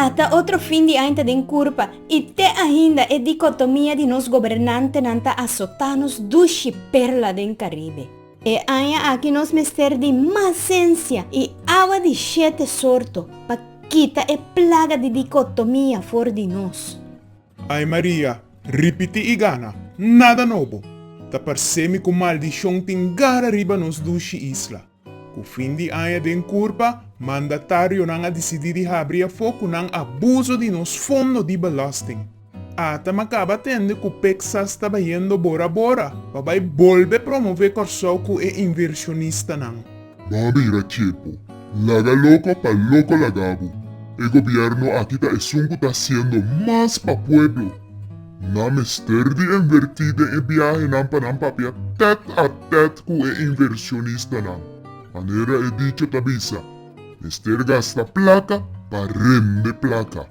Ata otro fin di aña ta den curpa y te ainda e dicotomia di nos gobernantenan ta azota nos dushi perla den Caribe. E aña aki nos mester di mas cencia y awa di shete sorto pa kita e plaga di dicotomia for di nos. Ay Maria, ripiti i gana, nada nobo! Ta parcemi cu maldicion tin gara riba nos dushi isla. Cu fin di aña den curpa, mandatarionan a dicidi di habri afo cu nan a buzo di nos fondo di belasting. Ata ma caba tende cu pxas ta bayendo bora bora pa bay bolbe promove Corsou cu e inversionistanan. Bo a bira chepu. Laga loko pa loko laga bo. E gobierno aki ta esun cu ta haciendo mas pa pueblo. Nan mester di enverti den e biahenan pa nan papia tet a tet cu e inversionistanan. Manera e dicho ta bisa, Mester gasta placa pa rembe placa.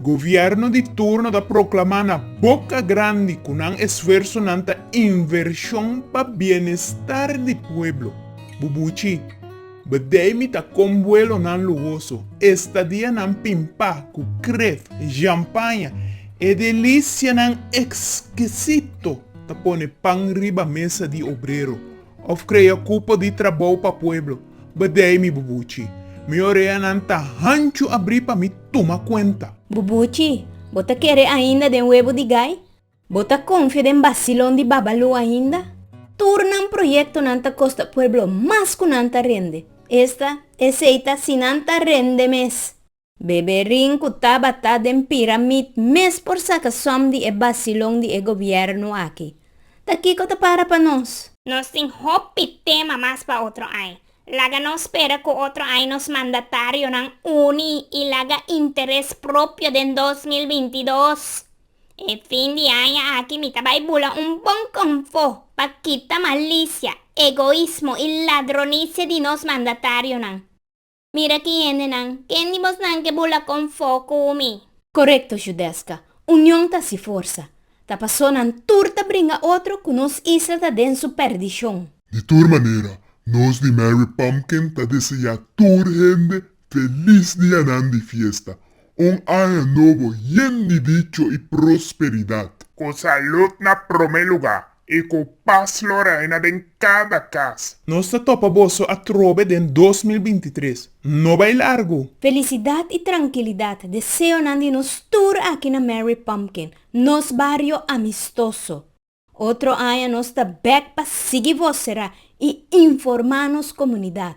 Gobierno di turno ta proclama na boca grandi cu nan esfuersonan ta inversion pa bienestar di pueblo. Bubuchi, Bedemi ta con vuelonan luhoso, estadianan pimpa cu kref, jampaña, e delicianan exquisito ta pone pan riba mesa di obrero. Of krea kupo di trabou pa pueblo. Bedei mi Bubuchi. Mi oreanan ta hanchu abri pa mi tuma kuenta. Bubuchi, bo ta kere ainda den webo di gai? Bo ta konfia den basilon di Babalu ainda? Tur nan proyektonan ta kosta pueblo mas ku nan ta rende. Esta, esei ta si nan ta rende mes. Beberin cu tabata den piramid mes por saca som di e bacilon di e gobierno aki. Ta kico ta para pa nos? Nos tin hopi tema mas pa otro ai. Laga no spera cu otro ai nos mandatarionan uni y laga interes propio den dos mil binti dos. E fin di aña aki mi ta bay bula un bon confo pa kita malicia, egoismo y ladronicia di nos mandatarionan. Mira ki hendenan, ken di bosnan ke bula kon fo ku mi? Korekto, Judesca. Union ta si forsa. Ta paso nan tur ta bringa otro ku nos isla ta den su perdishon. Di tur manera, nos di Mary Pumpkin ta deseá tur hende felis dianan di fiesta, un aña nobo yen di dicho i prosperidat. Ku salud na promé lugá. E ku pas lo reina den kada kas. Nos ta topa boso atrobe den dos mil binti tres. No bai largu! Felicidad y trankilidat deseonan di nos tur aki na Mary Pumpkin, nos bario amistoso. Otro aña nos ta bek pa sigui vocera y informa nos comunidad.